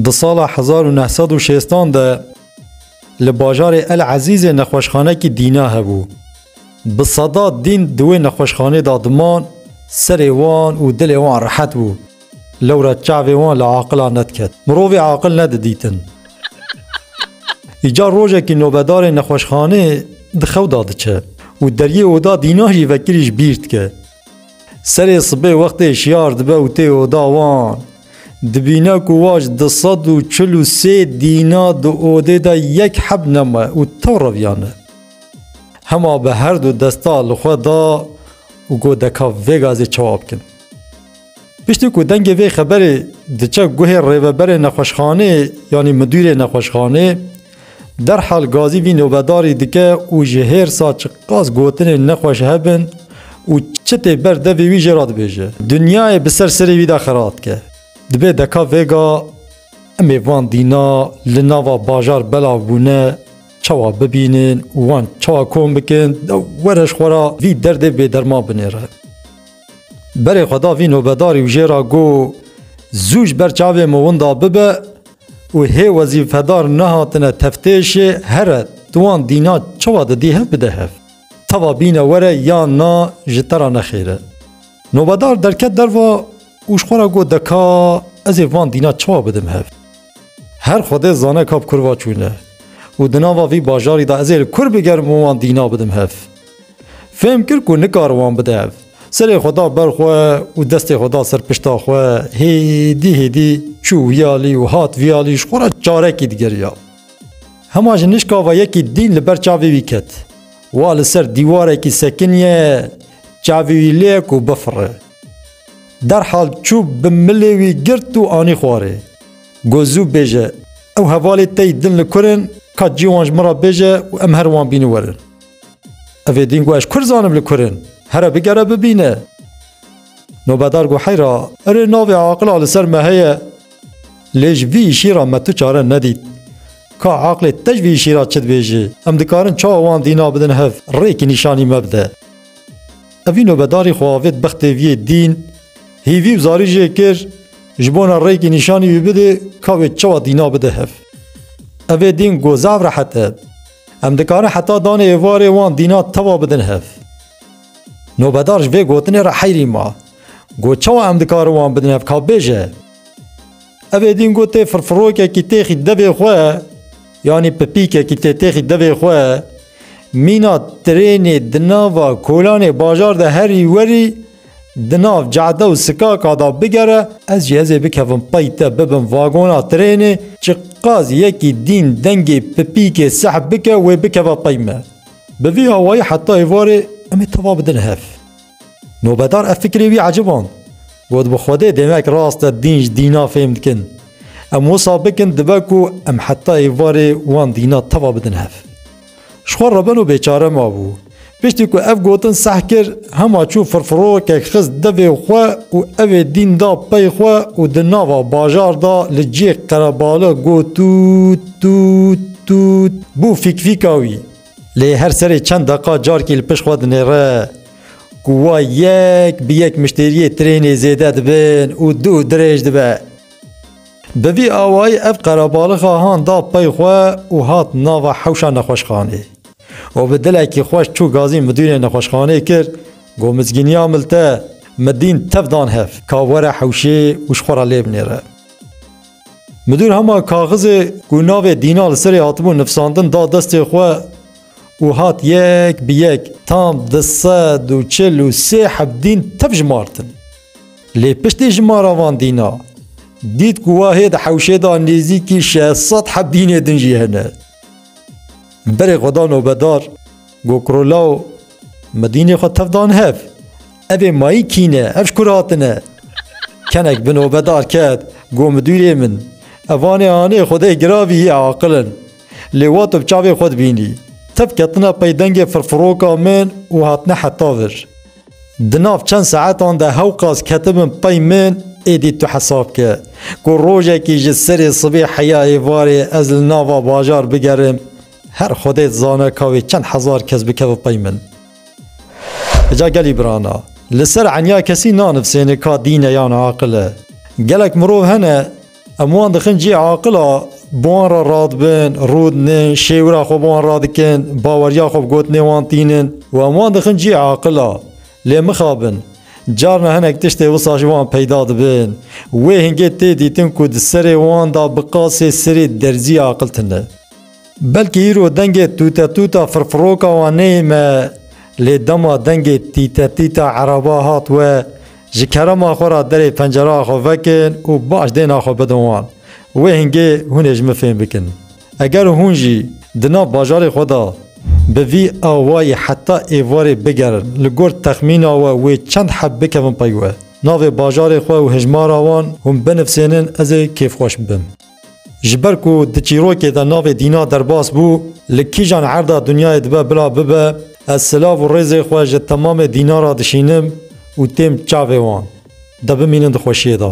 Di sala hezar û neh sed û şêstan de li bajarê El Ezîzê nexweşxanekî dîna hebû. Bi sedat dîn di wê nexweşxanê de diman, serê wan û dilê wan rehet bû. Lewra çavê wan li aqilan nediket. Mirovê aqil ne didîtin. Îcar rojekî nobedarê nexweşxanê di xew de diçe û deriyê oda dîna jî vekirî ji bîr dike. Serê sibê wextê şiyar dibe û tê oda wan, dibîne ku waj du sed û çil û sê dîna di odê de yek heb neme û tew reviyane. Hema bi her du desta li xwe da û got deka vê gazê çawa bikin. Piştî ku dengê vê xeberê diçe guhê rêveberê nexweşxanê yanî midûrê nexweşxanê, derhal gazî vî nobedarî dike û ji hêrsa çiqas gotinên nexweş hebin û çi tê ber devê wî jê re dibêje. Dinyayê bi ser serê wî de xira dike. Dibê deka vêga em ê van dîna li nava bajar belav bûne çawa bibînin û wan çawa kom bikin, were ji xwe re vî derdê bêderman binêre. Berê xwe da vî nobedarî û jê ra got, Zû ji ber çavê min winda bibe û hê wezîfedar nehatine teftêşê here tu wan dîna çawa didî hev bide hev. Teva bîne were ya na ji te ra nexêr e. Nobedar derket derva û ji xwe ra got deka ez ê van dîna çawa bidim hev. Her xwedê zane ka bi kurva çûne û di nava vî bajarî de ez ê li kur bigerim û wan dîna bidim hev. Fêm kir ku nikar wan bide ev. Serê xwe da ber xwe û destê xwe da ser pişta xwe, hêdî hêdî çû wiyalî û hat viyalî ji xwe re çarekî digeriya. Hema ji nişkava yekî dîn li ber çavê wî ket. Wa li ser dîwarekî sekiniye, çavê wî lê ye ku bifire. Derhal çû bi milê wî girt û anî xwarê. Got zû bêje, ew hevalê te yî din li kur in, ka cî wan ji min re bêje û em her wan bînin werin. Ev ê dîn got ez kurd zanim li kurin. Here bigere bibîne. Nobedar got heyra erê navê aqila li ser me heye. Lê ji vî îşî re me tu çare nedît. Ka aqilê te ji vî îşî re çi dibêje? Em dikarin çawa wan dîna bidin hev rêkî nîşanî me bide. Ev vî nobedarî xwe avêt bextê vî yê dîn, hîvî û zarî jê kir ji bona rêkî nîşanî wî bidê ka wê çawa dîna bide hev. Ev ê dîn got zaf rehet e. Em dikarin heta danê êvarê wan dîna tewa bidin hev. Nobedar ji vê gotinê re heyrî ma. Got çawa em dikarin wan bidin hev ka bêje. Ev ê dîn gotê firfirokekî têxî devê xwe yanî pipîkekî tê têxî devê xwe mîna tirênê di nava kolanê bajar de herî werî Di nav cade û sikaka da bigere, ez jî hezê bikevim pey te bibim vagona trênê, çi qas yekî dîn dengê pipîkê sehb bike wê bikeve pey me. Bi vî awayî heta êvarê em ê teva bidin hev. Nobedar ev fikirê wî eciband. Got bi Xwedê demek rast e dîn ji dîna fêm dikin. Em wisa bikin dibe ku em heta êvarê wan dîna teva bidin hev. Ji xwe re beno bêçare mabû. Piştî ku ev gotin seh kir, hema çû firfirokek xist devê xwe û ev ê dîn da pey xwe û di nava bajar da li cihê qerebale got tût tût tût bû fîkfîka wî. Lê her serê çend deqa carkî li pişt xwe dinêre ku wa yek bi yek miştêriyê trênê zêde dibin û dû dirêj dibe. Bi vî awayî ev qerebalixa han da pey xwe û hat nava hewşa nexweşxanê û bi dilekî xweş çû gazî midûrê nexweşxanê kir, Got mizgîniya mil te min dîn tev dan hev ka were hewşê û ji xwe re lê binêre. Midûr hema kaxizê ku navê Dîna li serê hatibû nifsandin da destê xwe û hat yek bi yek tam du sed û çil û sê heb dîn tev jimartin. Lê piştî ji ma re van dîna, dît ku wahê di hewşê de nêzîkî şeş sed heb dînê din jî hene. Berê xwe da nobedar, got Kurolaw, me dînê xwe tev dan hev. Ev ê mayî kî ne, ev ji ku re hatine? Kenek bi nobedar ket, got midûrê min, evanê anê xwedê giravî yê aqil in. Lê wa tu bi çavê xwe dibînî. Tev ketine pey dengê firfiroka min û hatine heta vir. Di nav çend saetan de hew qas ketibin pey min, êdî tu hesab bike ku rojekî ji serê sibê heya êvarê ez li nava bajar bigerim, her Xwedê dizane ka wê çend hezar kes bikeve pey min. Ca gelî birana, li ser enya kesî nanivsêne ka dîn e yan aqil e. Gelek mirov hene Em wan dixin cihê aqil a, bi wan re radibin, rûdinin, şêwira xwe bi wan radikin, baweriya xwe bi gotinê wan tînin û em wan dixin cihê aqil a. Lê mixabin, carna hinek tiştê wisa ji wan peyda dibin. Wê hingê tê dîtin ku di serê wan de bi qasê sirê derzî aqil tune. Belkî îro dengê tûtetûta firfiroka wan neyê me lê dema dengê tîtetîta eraba hat we ji kerema xwe re derê pencereya xwe vekin û baş dêna xwe bidin wan. Wê hingê hûn ê ji min fêm bikin. Eger hûn jî di nav bajarê xwe de bi vî awayî heta êvarê bigerin li gor texmîna we wê çend heb bikevin pey we. Navê bajarê xwe û hejmara wan hûn binivsênin ez ê kêfxweş bibim. Ji ber ku di çîrokê de navê Dîna derbas bû, li kîjan erda dinyayê dibe bila bibe, ez silav û rêzê xwe ji temamê Dîna re dişînim û têm çavê wan. De bimînin di xweşiyê de.